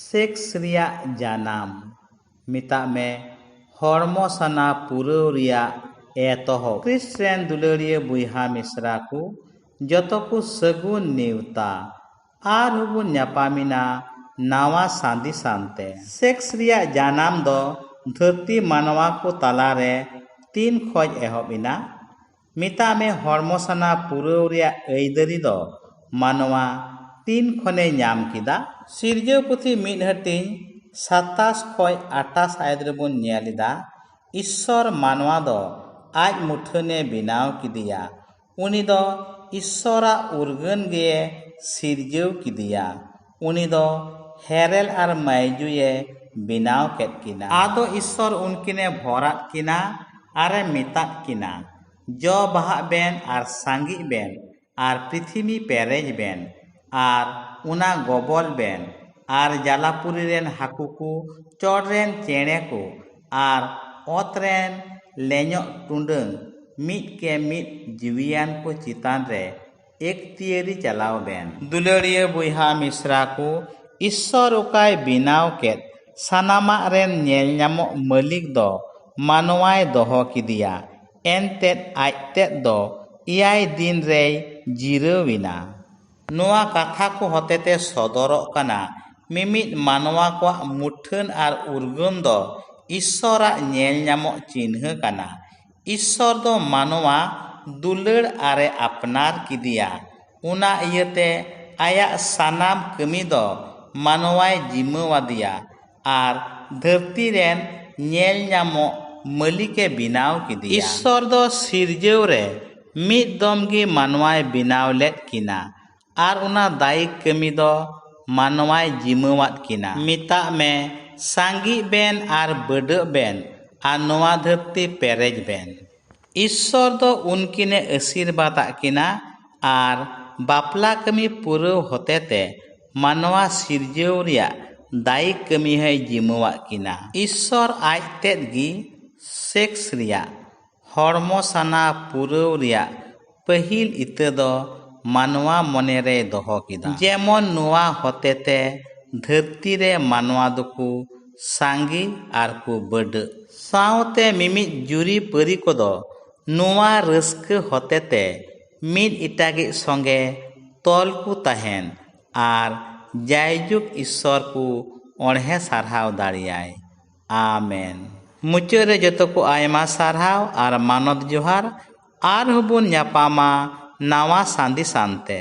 Sex ᱨᱮᱭᱟᱜ ᱡᱟᱱᱟᱢ᱾ ᱢᱮᱛᱟᱜ ᱢᱮ ᱦᱚᱲᱢᱚ ᱥᱟᱱᱟ ᱯᱩᱨᱟᱹᱣ ᱨᱮᱭᱟᱜ ᱮᱛᱚᱦᱚᱵ᱾ ᱠᱨᱤᱥᱴ ᱨᱮᱱ ᱫᱩᱞᱟᱹᱲᱤᱭᱟᱹ ᱵᱚᱭᱦᱟ ᱢᱤᱥᱨᱟ ᱠᱚ ᱡᱚᱛᱚ ᱠᱚ ᱥᱟᱹᱜᱩᱱ ᱱᱮᱣᱛᱟ᱾ ᱟᱨ ᱦᱚᱸ ᱵᱚᱱ ᱧᱟᱯᱟᱢᱮᱱᱟ ᱱᱟᱶᱟ ᱥᱟᱸᱫᱤ ᱥᱟᱱ ᱛᱮ᱾ ᱥᱮᱠᱥ ᱨᱮᱭᱟᱜ ᱡᱟᱱᱟᱢ ᱫᱚ ᱫᱷᱟᱹᱨᱛᱤ ᱢᱟᱱᱣᱟ ᱠᱚ ᱛᱟᱞᱟ ᱨᱮ ᱛᱤᱱ ᱠᱷᱚᱡ ᱮᱦᱚᱵ ᱮᱱᱟ? ᱢᱮᱛᱟᱜ ᱢᱮ ᱦᱚᱲᱢᱚ ᱥᱟᱱᱟ ᱯᱩᱨᱟᱹᱣ ᱨᱮᱭᱟᱜ ᱟᱹᱭᱫᱟᱹᱨᱤ ᱫᱚ ᱢᱟᱱᱣᱟ ᱛᱤᱱ ᱠᱷᱚᱱᱮ ᱧᱟᱢ ᱠᱮᱫᱟ? ᱥᱤᱨᱡᱟᱹᱣ ᱯᱩᱛᱷᱤ ᱢᱤᱫ ᱦᱟᱹᱴᱤᱧ ᱥᱟᱛᱟᱥ ᱠᱷᱚᱡ ᱟᱴᱟᱥ ᱟᱭᱟᱛ ᱨᱮ ᱵᱚᱱ ᱧᱮᱞ ᱮᱫᱟ, ᱤᱥᱥᱚᱨ ᱢᱟᱱᱣᱟ ᱫᱚ ᱟᱡ ᱢᱩᱴᱷᱟᱹᱱ ᱮ ᱵᱮᱱᱟᱣ ᱠᱮᱫᱮᱭᱟ᱾ ᱩᱱᱤ ᱫᱚ ᱤᱥᱥᱚᱨ ᱟᱜ ᱩᱨᱜᱟᱹᱱ ᱜᱮᱭᱮ ᱥᱤᱨᱡᱟᱹᱣ ᱠᱮᱫᱮᱭᱟ᱾ ᱩᱱᱤ ᱫᱚ ᱦᱮᱨᱮᱞ ᱟᱨ ᱢᱟᱭᱡᱩᱭ ᱮ ᱵᱮᱱᱟᱣ ᱠᱮᱫ ᱠᱤᱱᱟ᱾ ᱟᱫᱚ ᱤᱥᱥᱚᱨ ᱩᱱᱠᱤᱱ ᱮ ᱵᱷᱚᱨ ᱟᱫ ᱠᱤᱱᱟ ᱟᱨ ᱮ ᱢᱮᱛᱟᱫ ᱠᱤᱱᱟ, ᱡᱚ ᱵᱟᱦᱟᱜ ᱵᱮᱱ ᱟᱨ ᱥᱟᱸᱜᱮᱜ ᱵᱮᱱ ᱟᱨ ᱯᱨᱤᱛᱷᱤᱢᱤ ᱯᱮᱨᱮᱡ ᱵᱮᱱ ᱟᱨ ᱚᱱᱟ ᱜᱚᱵᱚᱞ ᱵᱮᱱ ᱟᱨ ᱡᱟᱞᱟᱯᱩᱨᱤ ᱨᱮᱱ ᱦᱟᱹᱠᱩ ᱠᱚ, ᱪᱚᱴ ᱨᱮᱱ ᱪᱮᱬᱮ ᱠᱚ ᱟᱨ ᱚᱛ ᱨᱮᱱ ᱞᱮᱧᱚᱜ ᱴᱩᱰᱟᱹᱝ ᱢᱤᱫ ᱠᱮ ᱢᱤᱫ ᱡᱤᱣᱤᱭᱟᱱ ᱠᱚ ᱪᱮᱛᱟᱱ ᱨᱮ ᱮᱠᱛᱤᱭᱟᱹᱨᱤ ᱪᱟᱞᱟᱣ ᱵᱮᱱ᱾ ᱫᱩᱞᱟᱹᱲᱤᱭᱟᱹ ᱵᱚᱭᱦᱟ ᱢᱤᱥᱨᱟ ᱠᱚ, ᱤᱥᱥᱚᱨ ᱚᱠᱟᱭ ᱵᱮᱱᱟᱣ ᱠᱮᱫ ᱥᱟᱱᱟᱢᱟᱜ ᱨᱮᱱ ᱧᱮᱞ ᱧᱟᱢᱚᱜ ᱢᱟᱹᱞᱤᱠ ᱫᱚ ᱢᱟᱱᱣᱟᱭ ᱫᱚᱦᱚ ᱠᱮᱫᱮᱭᱟ, ᱮᱱᱛᱮᱫ ᱟᱡ ᱛᱮᱫ ᱫᱚ ᱮᱭᱟᱭ ᱫᱤᱱ ᱨᱮᱭ ᱡᱤᱨᱟᱹᱣ ᱮᱱᱟ᱾ ᱱᱚᱶᱟ ᱠᱟᱛᱷᱟ ᱠᱚ ᱦᱚᱛᱮᱛᱮ ᱥᱚᱫᱚᱨᱚᱜ ᱠᱟᱱᱟ ᱢᱤᱢᱤᱫ ᱢᱟᱱᱣᱟ ᱠᱚᱣᱟᱜ ᱢᱩᱴᱷᱟᱹᱱ ᱟᱨ ᱩᱨᱜᱟᱹᱱ ᱫᱚ ᱤᱥᱥᱚᱨᱟᱜ ᱧᱮᱞ ᱧᱟᱢᱚᱜ ᱪᱤᱱᱦᱟᱹ ᱠᱟᱱᱟ᱾ ᱤᱥᱥᱚᱨ ᱫᱚ ᱢᱟᱱᱣᱟ ᱫᱩᱞᱟᱹᱲ ᱟᱨᱮ ᱟᱯᱱᱟᱨ ᱠᱮᱫᱮᱭᱟ ᱚᱱᱟ ᱤᱭᱟᱹᱛᱮ ᱟᱭᱟᱜ ᱥᱟᱱᱟᱢ ᱠᱟᱹᱢᱤ ᱫᱚ ᱢᱟᱱᱣᱟᱭ ᱡᱤᱢᱟᱹ ᱟᱫᱮᱭᱟ ᱟᱨ ᱫᱷᱟᱹᱨᱛᱤ ᱨᱮᱱ ᱧᱮᱞ ᱧᱟᱢᱚᱜ ᱢᱟᱹᱞᱤᱠᱮ ᱵᱮᱱᱟᱣ ᱠᱮᱫᱮᱭᱟ᱾ ᱤᱥᱥᱚᱨ ᱫᱚ ᱥᱤᱨᱡᱟᱹᱣ ᱨᱮ ᱢᱤᱫ ᱫᱚᱢ ᱜᱮ ᱢᱟᱱᱣᱟᱭ ᱵᱮᱱᱟᱣ ᱞᱮᱫ ᱠᱤᱱᱟ ᱟᱨ ᱚᱱᱟ ᱫᱟᱭᱤᱠ ᱠᱟᱹᱢᱤ ᱫᱚ ᱢᱟᱱᱣᱟᱭ ᱡᱤᱢᱟᱹᱣᱟᱫ ᱠᱤᱱᱟ᱾ ᱢᱮᱛᱟᱜ ᱢᱮ ᱥᱟᱸᱜᱤᱜ ᱵᱮᱱ ᱟᱨ ᱵᱟᱹᱰᱟᱹᱜ ᱵᱮᱱ ᱟᱨ ᱱᱚᱣᱟ ᱫᱷᱟᱹᱨᱛᱤ ᱯᱮᱨᱮᱡ ᱵᱮᱱ᱾ ᱤᱥᱥᱚᱨ ᱫᱚ ᱩᱱᱠᱤᱱᱮ ᱟᱹᱥᱤᱨᱵᱟᱫᱽ ᱟᱫ ᱠᱤᱱᱟ ᱟᱨ ᱵᱟᱯᱞᱟ ᱠᱟᱹᱢᱤ ᱯᱩᱨᱟᱹᱣ ᱦᱚᱛᱮᱛᱮ ᱢᱟᱱᱣᱟ ᱥᱤᱨᱡᱟᱹᱣ ᱨᱮᱭᱟᱜ ᱫᱟᱭᱤᱠ ᱠᱟᱹᱢᱤ ᱦᱚᱸᱭ ᱡᱤᱢᱟᱹᱣᱟᱫ ᱠᱤᱱᱟ᱾ ᱤᱥᱥᱚᱨ ᱟᱡ ᱛᱮᱫ ᱜᱮ ᱥᱮᱠᱥ ᱨᱮᱭᱟᱜ ᱦᱚᱲᱢᱚ ᱥᱟᱱᱟ ᱯᱩᱨᱟᱹᱣ ᱨᱮᱭᱟᱜ ᱯᱟᱹᱦᱤᱞ ᱤᱛᱟᱹ ᱫᱚ ᱢᱟᱱᱣᱟ ᱢᱚᱱᱮ ᱨᱮᱭ ᱫᱚᱦᱚ ᱠᱮᱫᱟ᱾ ᱡᱮᱢᱚᱱ ᱱᱚᱣᱟ ᱦᱚᱛᱮᱛᱮ ᱫᱷᱟᱹᱨᱛᱤ ᱨᱮ ᱢᱟᱱᱣᱟ ᱫᱚᱠᱚ ᱥᱟᱸᱜᱮ ᱟᱨ ᱠᱚ ᱵᱟᱹᱰᱟᱹᱜ᱾ ᱥᱟᱶᱛᱮ ᱢᱤᱢᱤᱫ ᱡᱩᱨᱤ ᱯᱟᱹᱨᱤ ᱠᱚᱫᱚ ᱱᱚᱣᱟ ᱨᱟᱹᱥᱠᱟᱹ ᱦᱚᱛᱮᱛᱮ ᱢᱤᱫ ᱮᱴᱟᱜᱤᱡ ᱥᱚᱸᱜᱮ ᱛᱚᱞ ᱠᱚ ᱛᱟᱦᱮᱱ ᱟᱨ ᱡᱟᱭᱡᱩᱜᱽ ᱤᱥᱥᱚᱨ ᱠᱚ ᱚᱬᱦᱮ ᱥᱟᱨᱦᱟᱣ ᱫᱟᱲᱮᱭᱟᱭ᱾ ᱟᱢᱮᱱ᱾ ᱢᱩᱪᱟᱹᱫ ᱨᱮ ᱡᱚᱛᱚ ᱠᱚ ᱟᱭᱢᱟ ᱥᱟᱨᱦᱟᱣ ᱟᱨ ᱢᱟᱱᱚᱛ ᱡᱚᱦᱟᱨ᱾ ᱟᱨᱦᱚᱸ ᱵᱚᱱ ᱧᱟᱯᱟᱢᱟ ᱱᱟᱣᱟ ᱥᱟᱸᱫᱮᱥ ᱟᱱᱛᱮ᱾